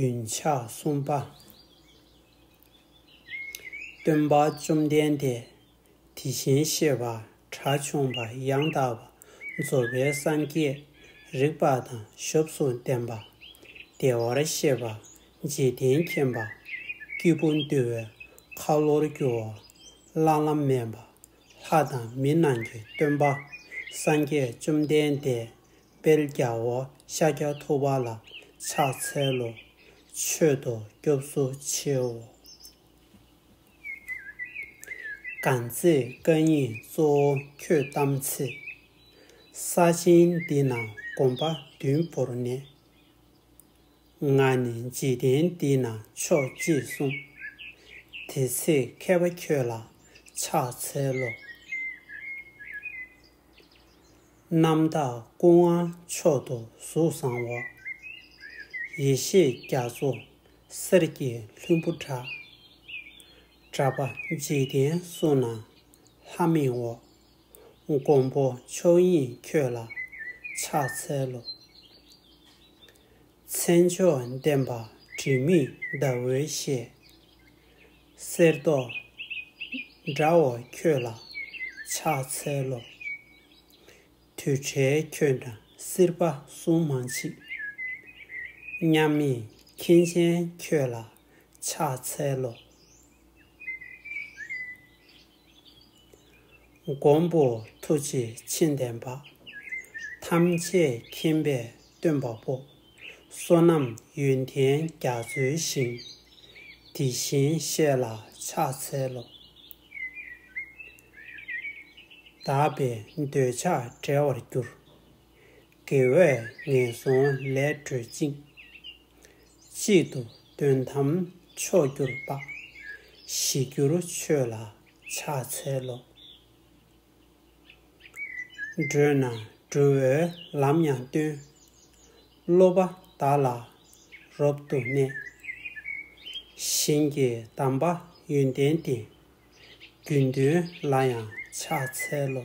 རྒྱུན་ཆགས་གསུམ་པ། སྟོན་པ་བཅོམ་ལྡན་འདས་དེ་བཞིན་གཤེགས་པ་གྲྭ་ཆུང་པ་ཡང་དག་པ་རྫོགས་པའི་སངས་རྒྱས་རིག་པ་དང་ཞབས་སུ་ལྡན་པ། བདེ་བར་གཤེགས་པ་འཇིག་རྟེན་མཁྱེན་པ། སྐྱེས་བུ་འདུལ་བའི་ཁ་ལོར་རྒྱུ་བ། བླ་ན་མེད་པ་ལྷ་དང་མི་རྣམས་ཀྱི་སྟོན་པ་སངས་རྒྱས་བཅོམ་ལྡན་འདས་དཔལ་རྒྱ་བོ་ཤཱཀྱ་ཐུབ་པ་ལ་ཕྱག་འཚལ་ལོ། མཆོད་དོ་སྐྱོབ་སོ་ཆེའོ། གང་ཚེ་བཀའ་ཡིན་གཙོ་བོ་ཁྱོད་གཏམ་ཚེ། ས་ཆེན་འདི་ན་དགོན་པ་བདུན་བོར་ནས། ང་ནི་འཇིག་རྟེན་འདི་ན་ཆོག་ཅེས་གསུངས། དེ་ཚེ་མཁས་པ་ཁྱོད་ལ་ཕྱག་འཚལ་ལོ། རྣམ་དག་སྐུ་ལྔ་མཆོག་ཏུ་གཟུགས་བཟང་བ། ཡེ་ཤེས་རྒྱ་མཚོ་གསེར་གྱི་ལྷུན་པོ་འདྲ། བཛྲ་པ་འཇིག་རྟེན་བསོད་ནམས་ལྷ་མིའི་འོ། མགོན་པོ་ཆོས་དབྱིངས་ཁྱོད་ལ་ཕྱག་འཚལ་ལོ། མཚན་མཆོག་ལྡན་པ་དྲི་མེད་ཟླ་འོད་ཤེས། གསེར་མདོག་འདྲ་བོ་ཁྱོད་ལ་ཕྱག་འཚལ་ལོ། དུས་བྲལ་ཁྱོད་འདྲ་སྲིད་པ་གསུམ་མ་མཆིས། མཉམ་མེད་མཁྱེན་ཆེན་ཁྱོད་ལ་ཕྱག་འཚལ་ལོ། མགོན་པོ་ཐུགས་རྗེ་ཆེན་ལྡན་པ། ཐམས་ཅད་མཁྱེན་པས་སྟོན་པ་པོ། བསོད་ནམས་ཡོན་ཏན་རྒྱ་མཚོའི་ཞིང། དེ་བཞིན་གཤེགས་ལ་ཕྱག་འཚལ་ལོ། དག་པའི་འདོད་ཆགས་བྲལ་བར་གྱུར། དགེ་བས་ངན་སོང་ལས་གྲོལ་ཅིང། གཅིག་ཏུ་དོན་དམ་མཆོག་གྱུར་དཔག། བཞི་འགྱུར་ཆོས་ལ་ཕྱག་འཚལ་ལོ། བགྲོད་ན་སྒྲོལ་བའི་ལམ་ཡང་སྟོན། སློབ་པ་བདག་ལ་རབ་ཏུ་གནས། བཞིན་གྱི་གདམས་པ་ཡོན་ཏན་ཏེ། རྒྱུད་མདུན་ལ་ཡང་ཕྱག་འཚལ་ལོ།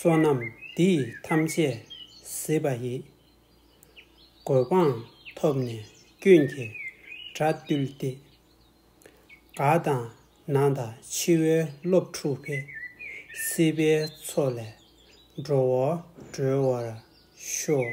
བསོད་ནམས་འདི་ཡིས་ཐམས་ཅད་གཟིགས་པ་ཡི། གོ་འཕང་ཐོབ་ནས་ཀུན་གྱི་དགྲ་བཏུལ་ཏེ། དགའ་དང་ན་དང་འཆི་བའི་བློ་འཁྲུགས་པས། སྲིད་པའི་མཚོ་ལས་འགྲོ་བ་སྒྲོལ་བར་ཤོག།